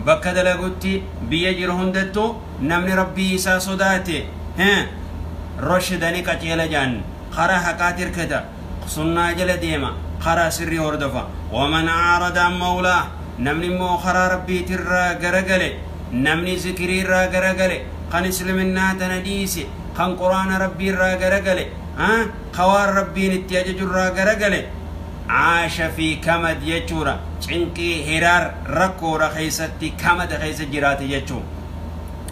bakka dalagutti biyya jiru hundattu namni rabbii isaa sodaate he roshida ni qaceela jaan karaa haqaati irkata sunnaa jala deema karaa sirrii hordofa waman aarada an mawlaa namni immoo karaa rabbiiti irraa garagale namni zikirii irraa garagale kan isliminnaa tana dhiise kan quraana rabbii irraa garagale ha ka waan rabbiin itti ajaju irraa garagale Aasha fi kamad jechuudha. Cinqii, hiraar, rakkoodha keessatti kamada keessa jiraate jechuu.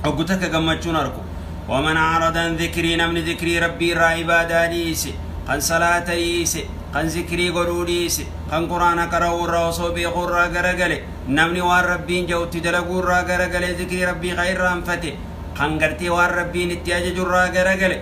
Oggu takka gammachuun arku. Waman aarada an zikrii namni zikrii rabbii irraa ibaadaa dhiise, kan salaata dhiise, kan zikrii godhuu dhiise, kan quraana qara'uu irraa osoo beekuu irraa garagale, namni waan rabbiin ja'utti dalaguu irraa garagale zikrii rabbii ka irraanfate, kan gartee waan rabbiin itti ajaju irraa garagale,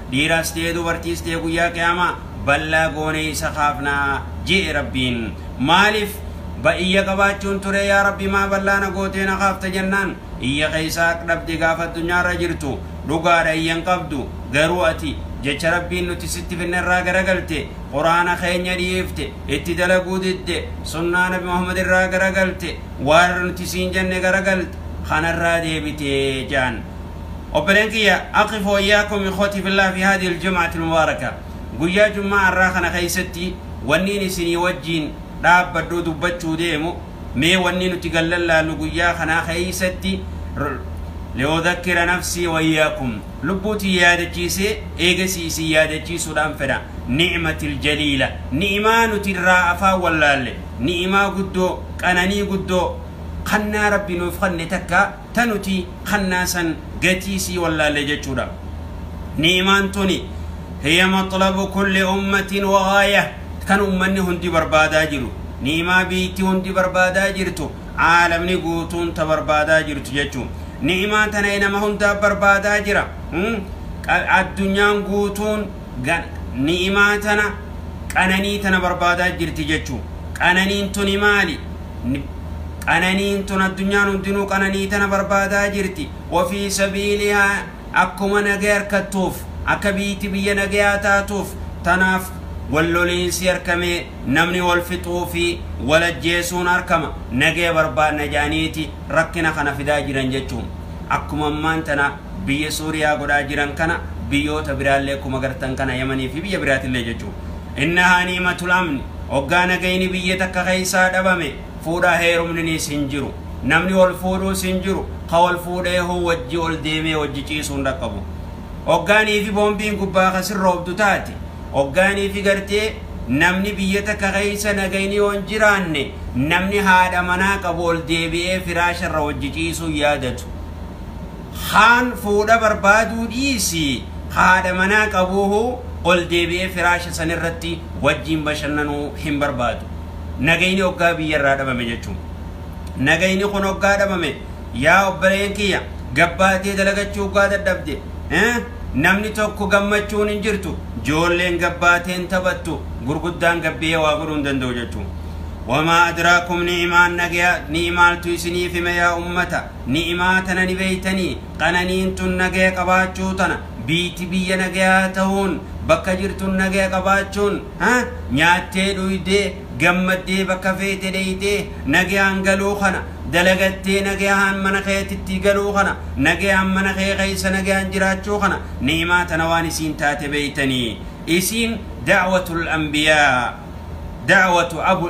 Dhiiras ta'e dubartiis ta'e guyyaa qiyaamaa bal'aa goonee isa kaafna je'e Rabbiin. Maaliif? Ba iyya qabaachuun ture yaa Rabbi maa bal'aa na gootee na kaafta jennaan iyya keeysaa haq dhabde gaafa addunyaarra jirtu dhugaadha iyya hin qabdu garuu ati jecha Rabbiin nuti sitti finnerraa garagalte qur'aana keenya dhiifte itti dalaguu didde sunnaa nabi Muhammadirraa garagalte waan nuti siin jenne garagalte kanarraa deebite je'an Obboleen kiyya akhi fi wayyaa kum ikhwati fillah fi haadhi aljum'ati almubaaraka guyyaa jum'aa arraa kana keessatti wanniin isinii wajjiin dhaabbadhuu dubbachuu deemu mee wannii nuti gad lallaallu guyyaa kanaa keessatti li'udhakkira nafsii wayyaakum lubbuu tiyya yaadachiisee eegasii isin yaadachiisuudhaan fedha ni'mati aljaliila ni'imaa nuti irraa afaan wallaalle ni'imaa guddoo qananii guddoo kannaa rabbi nuuf kanne takka ta nuti kannaa san gatii isii wallaalle jechuudha. Ni'imaan tuni hiya maxlabu kulli ummatin wa ghaayah kan ummanni hundi barbaadaa jiru. Ni'imaa biyyittii hundi barbaadaa jirtu, aalamni guutuun ta barbaadaa jirtu jechu. Ni'imaa tana nama hundaa barbaadaa jira. Addunyaan guutuun. Gan, ni'imaa tana, qananii tana barbaadaa jirti jechuun. Qananiin tuni maali? N, Qananiin tun addunyaan hundinuu qananii tana barbaadaa jirti. Wa fii sabiilihaa akkuma nagaya arkattuuf, akka biyti biyya nagayaa taatuuf, tanaaf walloliinsi arkamee namni wal fixuu fi wal ajjeesuun arkama, nagaya barbaanna jedhaniiti rakkina kana fidaa jiran jechuun. Akkuma ammaan tana. biyya Suuriyaa godhaa jiran kana biyyoota biraallee akkuma gartan kana Yamanii fi biyya biraatillee jechuu. Innahaa niimatul amni oggaa nagayni biyya takka keessaa dhabame fuudhaa heerumniniis hin jiru. Namni wal fuudhuus hin jiru. Ka wal fuudheehuu wajji ol deemee wajji ciisuu hin dhaqqabu. Oggaa niifi boombiin gubbaa ka sirroobdu taate, oggaa niifi gartee namni biyya takka keessa nagayni yoo hin jiraanne namni haadha manaa qabu ol deebi'ee firaasharra wajji ciisuu hin yaadatu. Kaan fuudha barbaaduu dhiisii haadha manaa qabuuhuu ol deebi'ee firaasha san irratti wajjiin bashannanuu hin barbaadu. Nagayni oggaa biyya irraa dhabame jechuun. Nagayni kun oggaa dhabame yaa obboleen kiyya gabbaatee dalagachuu oggaa dadhabde eh namni tokko gammachuun hin jirtu joolleen gabbaatee hin taphattu gurguddaan gabbihee waa godhuu hin danda'u jechuun. Wamaa adraakum ni'imaan nagayaa ni'imaaltu isiniif hime yaa ummata. Ni'imaa tana ni beeytanii? Qananiin tun nagaya qabaachuu tana. Biyti biyya nagayaa ta'uun, bakka jirtun nagaya qabaachuun, ha? Nyaattee dhuydee, gammaddee bakka feete dheeyxee nagayaan galuu kana, dalagattee nagayahaan mana keetittii galuu kana, nagayaan mana kee keeysa nagayaan jiraachuu kana, ni'imaa tana waan isiin taate beeytanii? Isiin da'watul anbiyaa, da'watu abu,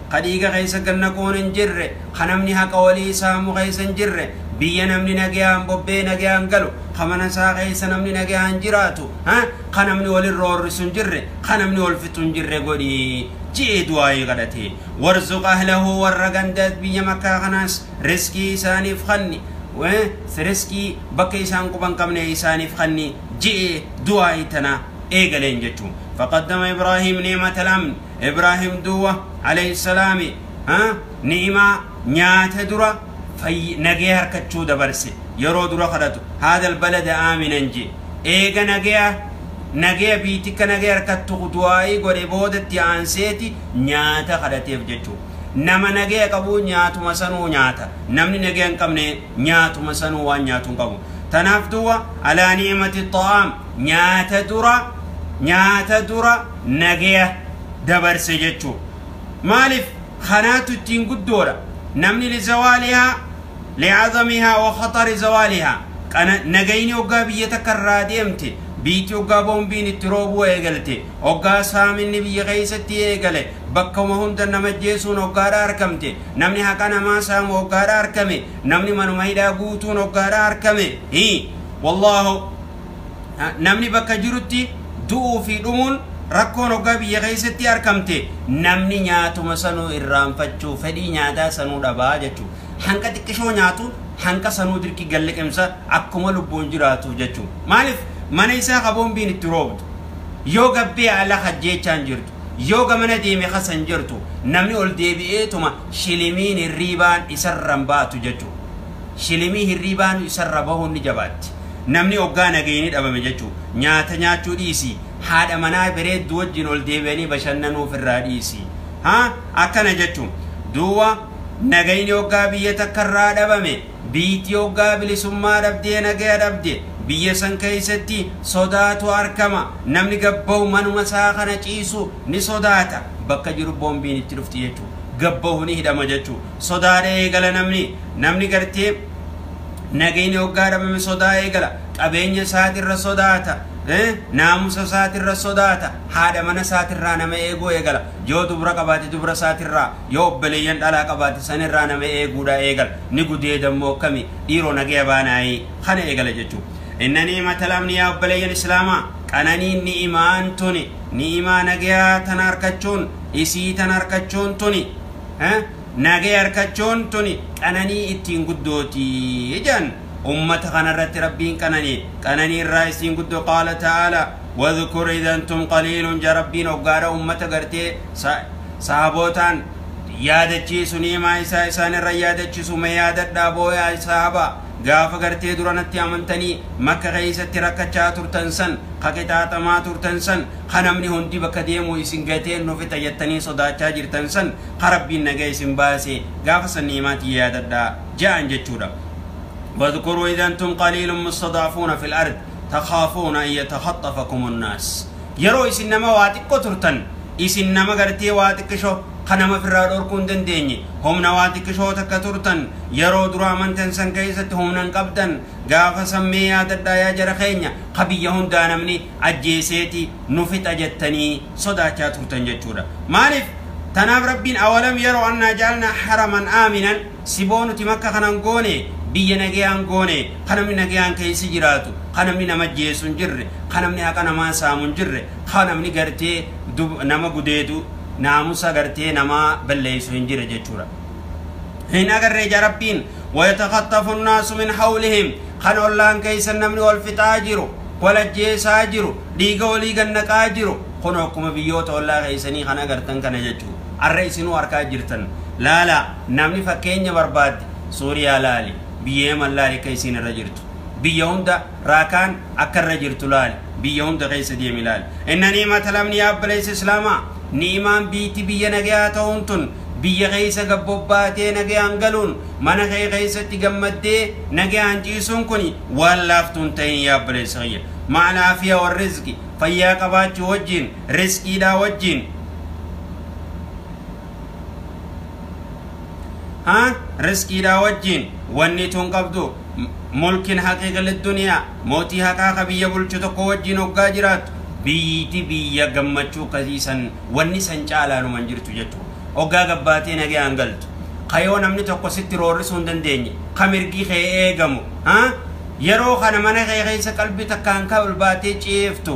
ka dhiiga keessa gad naquun hin jirre, ka namni haqa walii saamu keessa hin jirre, biyya namni nageyaan bobba'ee nageyaan galu, ka mana isaa keessa namni nageyaan jiraatu, ha, ka namni wal irra horrisu hin jirre, ka namni wal fixu hin jirre godhi je'ee du'aa'ii kadhate. Warzuq ahlahu warra ganda biyya Makkaa kanaas rizqii isaaniif kanni, wa, rizqii bakka isaan quba hin qabne isaaniif kanni je'ee du'aa'ii tana eegaleen jechu. Faqaddama Ibraahiim ni'matal amn. Ibraahim duwa alayhi salaami ha ni'imaa nyaate dura fayyi nagee harkachuu dabarse yeroo dura kadhatu haadal balada aaminan je eega nageya nageya biitikka nagee harkattu du'aa'ii godhe boodatti aanseeti nyaata kadhateef jechuu nama nageya qabuu nyaatuma sanuu nyaata namni nageya hin qabne nyaatuma sanuu waan nyaatu hin qabu tanaaf duwa alaa ni'imati ta'aam nyaata dura nyaata dura nagaya dabarse jechuu maalif kanaatu ittiin guddoodha namni lizawaalihaa li'azamihaa wa khaxari zawaalihaa kana nagayni hoggaa biyya takka irraa deemte biitti hoggaa boombiin itti roobuu eegalte hoggaa saaminni biyya keessatti eegale bakkuma hunda nama jeesuun hoggaadha arkamte namni haqa namaa saamu hoggaadha arkame namni manuma hidhaa guutuun hoggaadha arkame hi wallaahu Namni bakka jirutti du'uu fi dhumuun rakkoon hoggaa biyya keessatti arkamte namni nyaatuma sanuu irraanfachuu fedhii nyaataa sanuu dhabaa jechu. Hanqa xiqqishoo nyaatu hanqa sanuu dirqi galliqimsa akkuma lubbuun jiraatuuf jechu. Maalif mana isaa ka boombiin itti roobdu yoo gabbee ala hajjeechaan jirtu yoo gamana deeme kasan jirtu namni ol deebi'eetuma shilimiin hirriibaan isarran baatu jechu. shilimii hirriibaanu isarra bahuun ni jabaatti. Namni oggaa nagayni dhabame jechu. Nyaata nyaachuu dhiisi. Haadha manaa bereeddu wajjin ol deebi'anii bashannanuu ofirraa dhiisi. Ha? Akkana jechu. Duuba nagayni oggaa biyya takkarraa dhabame, biyyittii oggaa bilisummaa dhabdee nagaya dhabde, biyya san keessatti sodaatu arkama. Namni gad bahu manuma isaa kana ciisu ni sodaata. Bakka jiru boombiin itti dhufti jechu. Gad bahu ni hidhama jechu. Sodaadha eegala namni. Namni gartee nagayni hoggaa dhabame sodaa eegala. Qabeenya isaatirra sodaata. Naamusa isaatirra sodaata. Haadha mana isaatirraa nama eeguu eegala. Yoo dubra qabaate dubra isaatirraa, yoo obboleeyyan dhalaa qabaate sanirraa nama eeguudha eegala. Ni gudeedammoo akkami? Dhiiroo nagaya baanaayi. Kana eegala jechuu. Inna ni'imatal amni yaa obboleeyyan Islaamaa, qananiin ni'imaan tuni, ni'imaa nagayaa tana arkachuun, isii tana arkachuun tuni, Nagaya harkachuun tuni qananii ittiin guddooti. Ijaan ummata kanarratti rabbiin qananii qananii irraa isiin guddoo qaala ta'ala wadhkur idantum qaliilun ja rabbiin oggaadha ummata gartee sahabootaan yaadachiisu niimaa isaa isaan irra yaadachisu ma yaadadhaa booyaa sahabaa Gaafa gartee dura natti amantanii makka keessatti rakkachaa turtan san, ka qixaaxamaa turtan san, ka namni hundi bakka deemu isin gatee nu fixa jettanii sodaachaa jirtan san, ka Rabbiin nagaya isin baase, gaafa san ni'imaa tiyya yaadadhaa. Ja'an jechuudha. Wadhkuruu idh antum qaliilun mustad'afuuna fil ardh takhaafuuna an yatakhaxxafakumun naas. Yeroo isin nama waa xiqqo turtan isin nama gartee waa xiqqisho ka nama firraa dhorkuu hin dandeenye humna waa xiqqishoo takka turtan yeroo dura amantan san keessatti humna hin qabdan gaafa san mee yaadadhaa yaa jara keenya ka biyya hundaa namni ajjeeseeti nu fixa jettanii sodaachaa turtan jechuudha maaliif tanaaf rabbiin awalam yeroo annaa jaalna haraman aaminan Siboo nuti makka kanan goone biyya nagayaan goone ka namni nagayaan keessa jiraatu ka namni nama ajjeesu hin jirre ka namni haqa namaa saamu hin jirre ka namni gartee nama gudeedu naamusa gartee namaa balleessu hin jirre jechuudha hin agarre ija rabbiin wayatakattafu nnaasu min hawlihim kan ollaan keessan namni wal fixaa jiru wal ajjeesaa jiru dhiiga walii gannaqaa jiru kun akkuma biyyoota ollaa keessanii kan agartan kana jechuudha Arra isinuu arkaa jirtan. Laalaa, namni fakkeenya barbaadde Suuriyaa laali, biyya Yaman laali akka isiin irra jirtu. Biyya hunda raakaan akka irra jirtu laali, biyya hunda keessa deemi laali. Inna ni'imata lamni yaa obboleessa Islaamaa, ni'imaan biyti biyya nagayaa ta'uun tun, biyya keessa gad bobbaatee nagayaan galuun, mana kee keessatti gammaddee nagayaan ciisuun kuni waan laaftu hin ta'in yaa obboleessa kiyya. Ma'al aafiya wal rizqi, fayyaa qabaachuu wajjiin, rizqiidhaa wajjiin ha rizqiidhaa wajjiin wanni tun qabdu mulkin haqiiqil duniyaa mootii haqaa ka biyya bulchu tokko wajjiin hoggaa jiraattu biyyiti biyya gammachuu kasii san wanni san caalaanuma hin jirtu jechuu hoggaa gabbaatee nagayaan galtu kayoo namni tokko sitti roorrisuu hin dandeenye ka mirgi kee eegamu ha yeroo kana mana kee keessa qalbii takkaan ka ol baatee ciiftu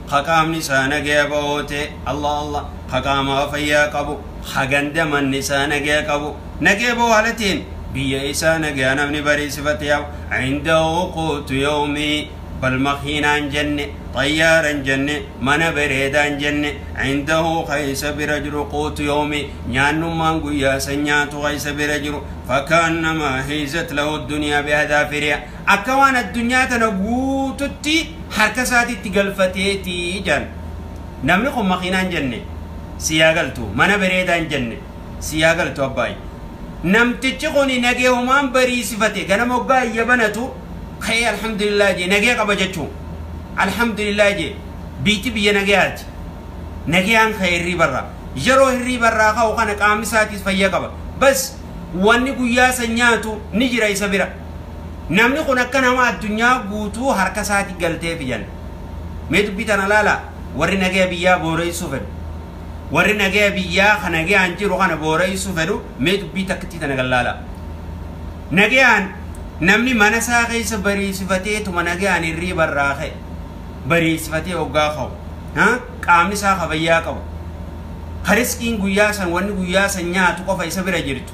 ka qaamni isaa nagaya ba'oo ta'e, Allah Allah, ka qaamaa fayyaa qabu, ka ganda manni isaa nagaya qabu, nagaya ba'oo haala ta'een biyya isaa nagaya namni bariisifate yaa'u, indahu quutu yawmihi, bal makiinaa hin jenne, xayyaara hin jenne, mana bereedaa hin jenne, indahu ka isa bira jiru quutu yawmihi, nyaannummaan guyyaa san nyaatu ka isa bira jiru, fakaannamaa hiizat lahu duniyaa bi'adaafirihaa, akka waan addunyaa tana guututti harka isaatitti galfatee ti jedhan. Namni kun makiinaa hin jenne sii haa galtu, mana bereedaa hin jenne sii haa galtu abbaay. Namtichi kun nageehumaan bariisifate ganama hoggaa iyya banatu ka'ee alhamdulillah jee nagee qaba jechuu. Alhamdulillah jee biyti biyya nageehaati. Nageehaan ka'e hirriibarraa. Yeroo hirriibarraa ka'u kana qaamni isaatiis fayya qaba. Bas wanni guyyaa san nyaatu ni jira isa bira. Namni kun akka nama addunyaa guutuu harka isaati galteefi jenna. Mee dubbii tana laalaa, warri nagaya biyyaa booreessuu fedhu, warri nagaya biyyaa ka nagayaan jiru kana booreessuu fedhu mee dubbii takkittii tana gad laalaa. Nagayaan namni mana isaa keessa bariisifateetuma nagayaan hirriiba irraa ka'e, bariisifatee hoggaa ka'u, ha, qaamni isaa ka fayyaa qabu, ka riskiin guyyaa san wanni guyyaa san nyaatu qofa isa bira jirtu,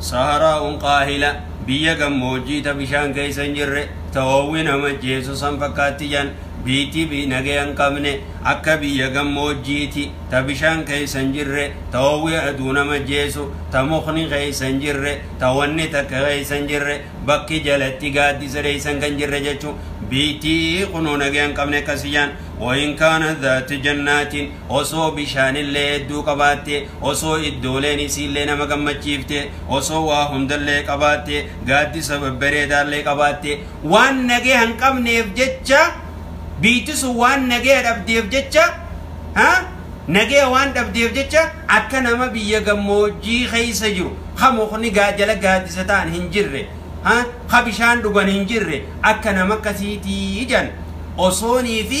Saharaa'uun kaahila, biyya gammoojjii ta bishaan keessa hin jirre, ta hoowwi nama ajjeesu san fakkaatti jedhan. Biyyittii biyyi nageya hin qabne, akka biyya gammoojjiiti, ta bishaan keessa hin jirre, ta hoowwi aduu nama ajjeesu, ta mukni keessa hin jirre, ta wanni takka keessa hin jirre, bakki jalatti gaaddisa dheessan kan jirre jechuun biyyittii kunoo nageya hin qabne akkasi jedhan. Wa in kaanat zaatu jannaatin, Osoo bishaanillee hedduu qabaatte, osoo iddooleen isiillee nama gammachiifte, osoo waa hundallee qabaatte, gaaddisa babbareedaallee qabaatte, waan nageya hin qabneef jecha, biyti sun waan nageya dhabdeef jecha, ha, nageya waan dhabdeef jecha, akka nama biyya gammoojjii keessa jiru, ka mukni gaa jala gaaddisa ta'an hin jirre, ha, ka bishaan dhugan hin jirre, akka nama akkasiitii jedhan. Osoonii fi.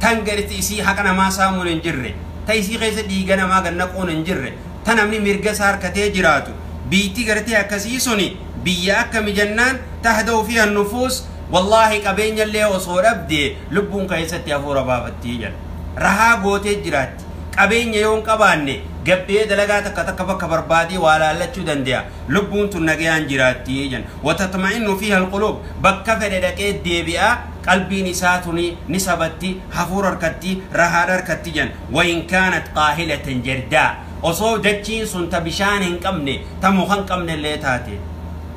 tan garti isii haqa namaa saamuun hin jirre, ta isii keessa dhiiga namaa gad naquun hin jirre, ta namni mirga isaa harkatee jiraatu, biyti gartee akkasii suni biyya akkami jennaan, tahdau fiiha an-nufuus, wallaahi qabeenyallee osoo dhabde lubbuun keessatti hafuura baafatti jedha. Rahaa gootee jiraatti. Qabeenya yoo hin qabaanne gabbee dalagaa takka takka bakka barbaadee waa laallachuu dande'a. Lubbuun tun nagayaan jiraatti jedhan. Watatma'innu fiiha al-quluub, bakka fedhe dhaqee deebi'a. qalbiin isaa tuni ni sabatti, hafuura harkatti, rahaadha harkatti jedhan. Wain kaanat qaahilatan jardaa, osoo dachiin sun ta bishaan hin qabne, ta muka hin qabne illee taate.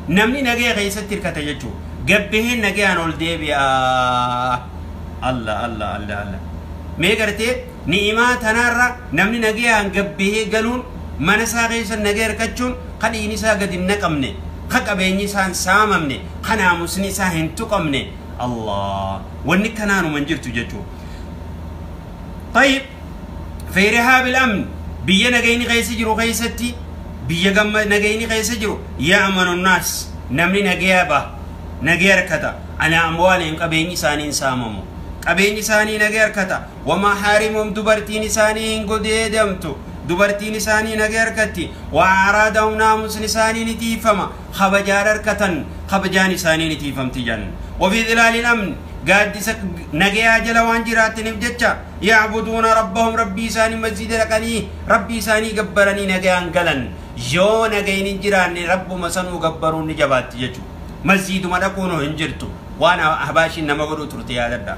Namni nagaya keessatti hirkata jechuudha. Gad bahee nagayaan ol deebi'a. Alla, alla, alla, alla. Mee gartee? Ni'imaa tanaarra namni nagayaan gad bahee galuun, mana isaa keessa nagaya hirkachuun, ka dhiigni isaa gad hin naqamne, ka qabeenyi isaa hin saamamne, ka naamusni isaa hin tuqamne, Allah! Wanni kanaanuma hin jirtu jechu'u. Tayyib, fii rihaabil amn, biyya nagayni keessa jiru keessatti, biyya gamma nagayni keessa jiru, ya'manu nnaas, namni nagaya baha, nagaya hirkata, alaa amwaalihim, qabeenyi isaanii hin saamamu. Qabeenyi isaanii nagaya hirkata. wama harimum dubartiin isaanii hin godeedamtu dubartiin isaanii nagee arkatti wa aaraadahum naamusni isaanii ni tiifama kabajaan arkatan kabajaan isaanii ni tiifamti jan wafii dhilaalin amni gaaddisa nagayaa jala waan jiraattiniif jecha yaabuduuna rabbahum rabbii isaanii masjiida dhaqanii rabbii isaanii gabbaranii nagayaan galan yoo nagayin hin jiraanne rabbuma sanuu gabbaruun ni jabaatti jechu masjiiduma dhaquunu hin jirtu waan ahbaashiin nama godhuu turte yaadadha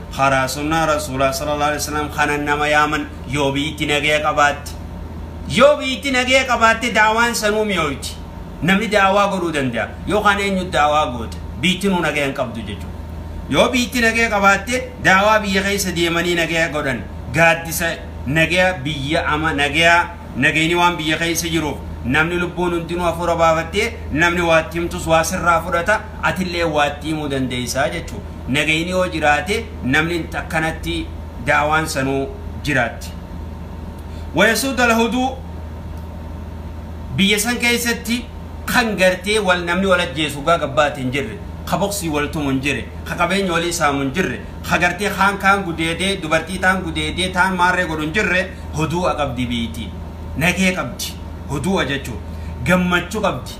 karaa sunnaa rasuulaa sallallahu alaihi wasallam kanan nama yaaman yoo biyyitti nagaya qabaatte yoo biyyitti nagaya qabaatte daawaan sanuu mi'ooyti namni daawaa godhuu danda'a yookaan eenyu daawaa goota biyyittinuu nagaya hin qabdu jechuudha yoo biyyitti nagaya qabaatte daawaa biyya keessa deemanii nagaya godhan gaaddisa nagaya biyya ama nagaya nagayni waan biyya keessa jiruuf namni lubbuun hundinuu hafuura baafattee namni waatti himtus waa sirraa fudhata atillee waatti himuu dandeessaa jechuudha nagayni yoo jiraate namni akkanatti daawaan sanuu jiraatti wayasuud alhuduu biyya san keessatti kan gartee wal namni wal ajjeesu gaa gabbaate hin jirre ka boksii wal tumu hin jirre ka qabeenya walii saamu hin jirre ka gartee kaan kaan gudeedee dubartii taan gudeedee taan maarree godhu hin jirre huduu qabdi biiyti nagee qabdi huduu jechuun gammachuu qabdi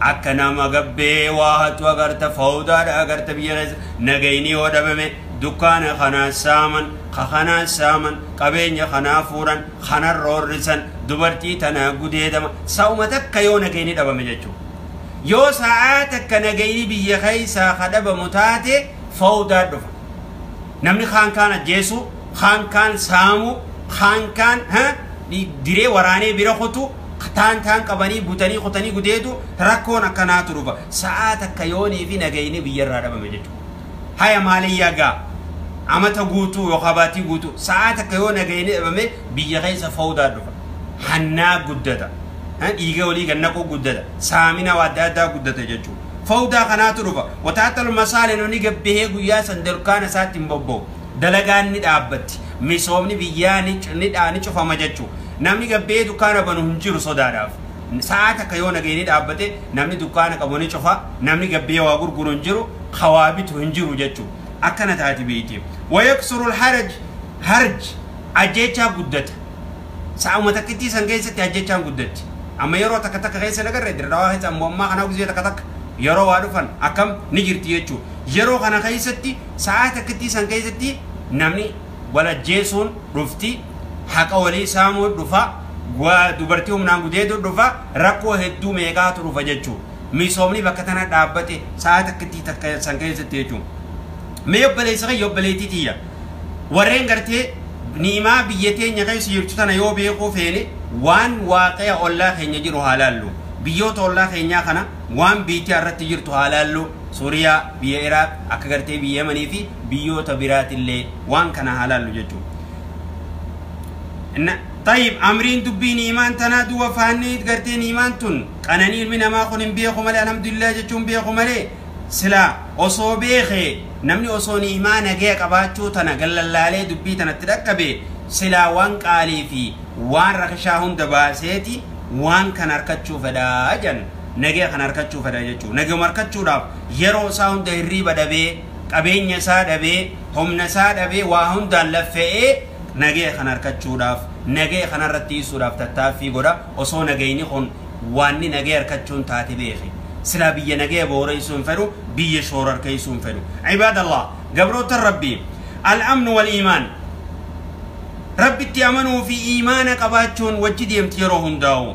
Akka nama gabbee waa hattu agarta fowdaadha agarta biyya keessa nagayni yoo dhabame dukkaana kanaa saaman ka kanaa saaman qabeenya kanaa fuudhan kana roorrisan dubartii tanaa gudeedama sa'uma takka yoo nagayni dhabame jechuu yoo sa'aa takka nagayni biyya keessaa ka dhabamu taate fowdaa dhufa namni kaan kaan ajjeesuu kaan kaan saamuu kaan kaan ha diree waraanee bira kutuu taan taan qabanii butanii kutanii gudeedu rakkoon akkanaatu dhufa sa'aa takka yoonii fi nagayni biyyarraa dhabame jechuudha. Haya maaliyyaa gaa amata guutuu yookaan baatii guutuu sa'aa takka yoo nagayni dhabame biyya keessa fawdaan dhufa. Hannaa guddata. Dhiiga olii gannaquu guddata. Saamina waa adda addaa guddata jechuudha. Fawdaa kanaatu dhufa. Wataatal masaale nuni gabbihee guyyaa san dukkaana isaatti hin bobba'u. dalagaan ni dhaabbatti, misoomni biyyaa ni ni cufama jechu. Namni gad ba'ee dukkaana banu hin jiru sodaadhaaf. Sa'aa takka yoo nageenyi dhaabbate namni dukkaana qabu ni cufa, namni gad ba'ee waa gurguru hin jiru, ka waa bitu hin jiru jechu. Akkana taati biyyi. Wayaksuru alharaj harj ajjeechaa guddata. Sa'uma takkittii san keessatti ajjeechaan guddatti. Amma yeroo takka takka keessa hin agarre Dirredawaa keessa ammoo ammaa kana gizee takka takka yeroo waa dhufan akkam ni jirti jechu. Yeroo kana keessatti Sa'aa takkittii san keessatti namni wal ajjeesuun dhufti, haqa walii saamuun dhufa, dubartii humnaan gudeeduun dhufa, rakkoo hedduu meeqaatu dhufa jechuu. Misoomni bakka tana dhaabbate sa'aa takkittii takka san keessatti jechuu. Mee obboleessa kiyya obboleettii tiyya warreen gartee ni'imaa biyya teenya keessa jirtu tana yoo beekuu feene waan waaqea ollaa keenya jiru haa laallu. Biyyoota ollaa keenyaa kana waan biitia irratti jirtu haa laallu. Suriyaa, biyya Iraaq, akka gartee biyya Yamanii fi biyyoota biraatillee waan kana haa laallu jechuudha. Inna Xayyib, Amriin dubbii ni'imaan tanaa duuba faanni'iit gartee ni'imaan tun qananii ilmi namaa kun hin beeku malee alhamdulillaah jechuun beeku malee silaa osoo beeke namni osoo ni'imaa nagaya qabaachuu tana gallallaalee dubbii tana itti dhaqqabe silaa waan qaalii fi waan rakishaa hunda baaseeti waan kana arkachuu fedha jedhan. nagaya kana arkachuu fedha jechuu nagayuma arkachuudhaaf yeroo isaa hunda hirriiba dhabee qabeenya isaa dhabee humna isaa dhabee waa hundaan laffe'ee nagaya kana arkachuudhaaf nagaya kana irratti dhiisuudhaaf tattaaffii godha osoo nagayni kun waanni nagaya arkachuun taate beeke silaa biyya nagaya booreessuu hin fedhu biyya shoora arkeessuu hin fedhu ibaadallah gabroota rabbii al-amnu wal iimaan rabbitti amanuu fi iimaana qabaachuun wajji deemti yeroo hundaa'u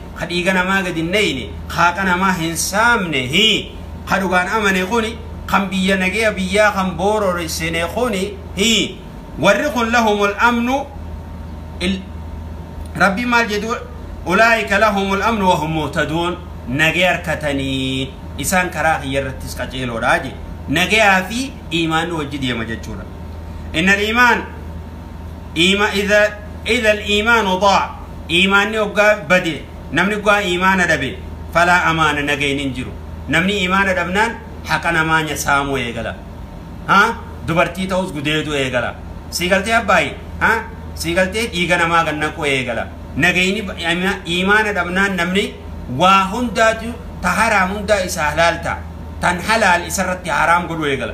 ka dhiiga namaa gad hin neyne, ka haqa namaa hin saamne, hi, ka dhugaan amane kuni, kan biyya nageya biyyaa kan boorore sene kuni, hi, warri kun lahumul amnu, il, Rabbiin maal jedhu, ulaa'ika lahumul amnu wa hum muhtaduun, nageya arkatanii, isaan karaa kiyya irrattis qaceeloodha jedhe. Nageyaa fi iimaanni wajji deema jechuudha. Innal iimaan. Iima idha idha iimaanu daa iimaanni oggaa bade namni oggaa iimaana dhabe falaa amaana nagayni hin jiru namni iimaana dhabnaan haqa namaa nya saamuu eegala ha dubartii ta'uus gudeeduu eegala sii galtee abbaayi ha sii galtee dhiiga namaa gad naquu eegala nagayni ba- iima- iimaana dhabnaan namni waa hundaatu ta haraam hundaa isa halaal ta'a tan halaal isarratti haraam godhuu eegala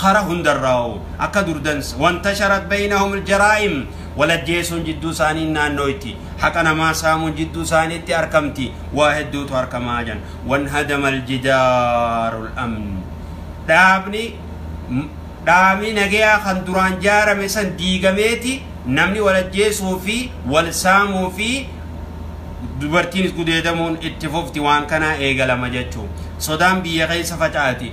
Kara hundarraa'uu, akka durdansa, wantasharat baynahumul jaraa'im, wal ajjeesuun jidduu isaanii naannooyti, haqa namaa saamuun jidduu isaaniitti arkamti, waa hedduutu arkamaa jedhan. Wanhadamal jidaarul amn, dhaabni dhaabni nageyaa kan duraan jaarame san diigameeti namni wal ajjeesuu fi wal saamuu fi dubartiinis gudeedamuun itti fufti waan kanaa eegalama jechuu. Sodaan biyya keessa faca'ati.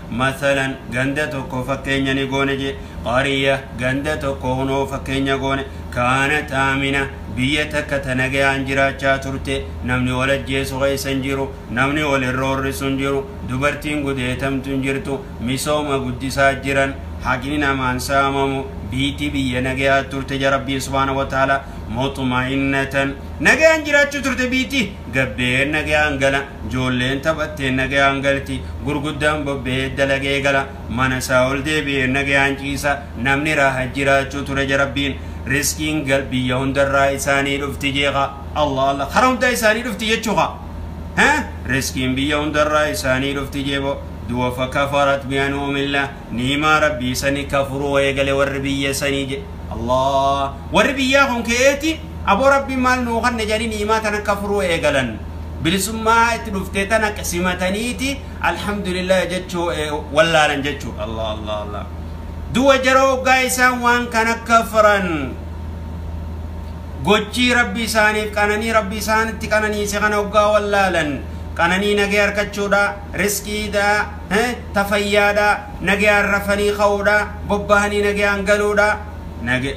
Masalan, ganda tokko fakkeenya ni goone je. Qarya, ganda tokko Kunoo fakkeenya goone. Kaanat Aamina, biyya takka ta nagayaan jiraachaa turte. Namni wal ajjeesu keessa hin jiru. Namni wal hin roorrisu hin jiru. Dubartiin gudeetamtu hin jirtu. Misooma guddisaa jiran. Haqni namaa hin saamamu. Biyti biyya nagayaa turte ja Rabbiin subhaanahu wa ta'aalaa. Muxma'innatan, nagayaan jiraachuu turte biyti. Gabbeen nagayaan gala. Ijoolleen taphatteen nagayaan galti, gurguddaan bobba'ee dalagee gala, mana isaa ol deebi'ee nagayaan ciisa, namni raaha jiraachuu ture jarabbiin, rizqiin gal biyya hundarraa isaanii dhufti jeeqa, Allah Allah kara hundaa isaanii dhufti jechuuka, he rizqiin biyya hundarraa isaanii dhufti jeebo, duwafa kafarat bi'anu'umillah. niimaa rabbii sani kafuruu eegale warri biyya sani je Allah warri biyyaa kun keeti aboo rabbiin maal nuu kanne jedhanii niimaa tana kafuruu eegalan bilisummaa itti dhuftee tana simataniiti alhamdulillah jechuu wallaalan jechuu Allah Allah Allah duwa jara oggaa isaan waan kana kafran gochii rabbi isaaniif qananii rabbi isaanitti qananiise kana oggaa wallaalan qananii nagee harkachuudha riskiidha he, ta fayyaadhaa, nagayaan rafanii ka'uudhaa, bobbahanii nagayaan galuudhaa, nage.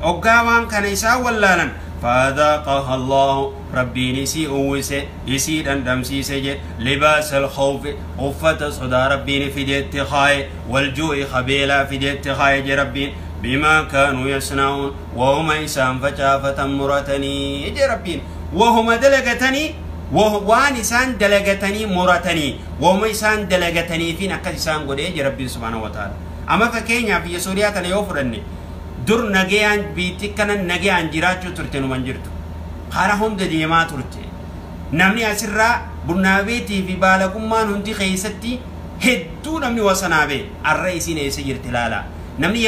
Oggaa waan kana isaan wallaalan, fa'adhaaqaha Allaahu, Rabbiin isii uwwise, isii dhandhamsiise je, libaasal khawfi, uffata sodaa Rabbiin fide itti kaaye, wal juu'i ka beelaa fide itti kaaye je Rabbiin, bimaa kaanuu yasna'uun, wahuma isaan facaafatan muratanii je Rabbiin. Wahuma dalagatanii, wa, waan isaan dalagatanii muratanii, Woma isaan dalagataniifiin akkas isaan godhe jedhe Rabbiin subhaanahu wa ta'aala. Ama fakeenyaa biyya Suuriyaa tana yoo fudhanne dur nageyaan biitti akkana nageyaan jiraachuu turte numa hin jirtu. Karaa hunda deemaa turte. Namni asirraa bunnaa beetii fi baalagummaan hundi keessatti hedduu namni wasanaa bee arra isiin eessa jirti laalaa. Namni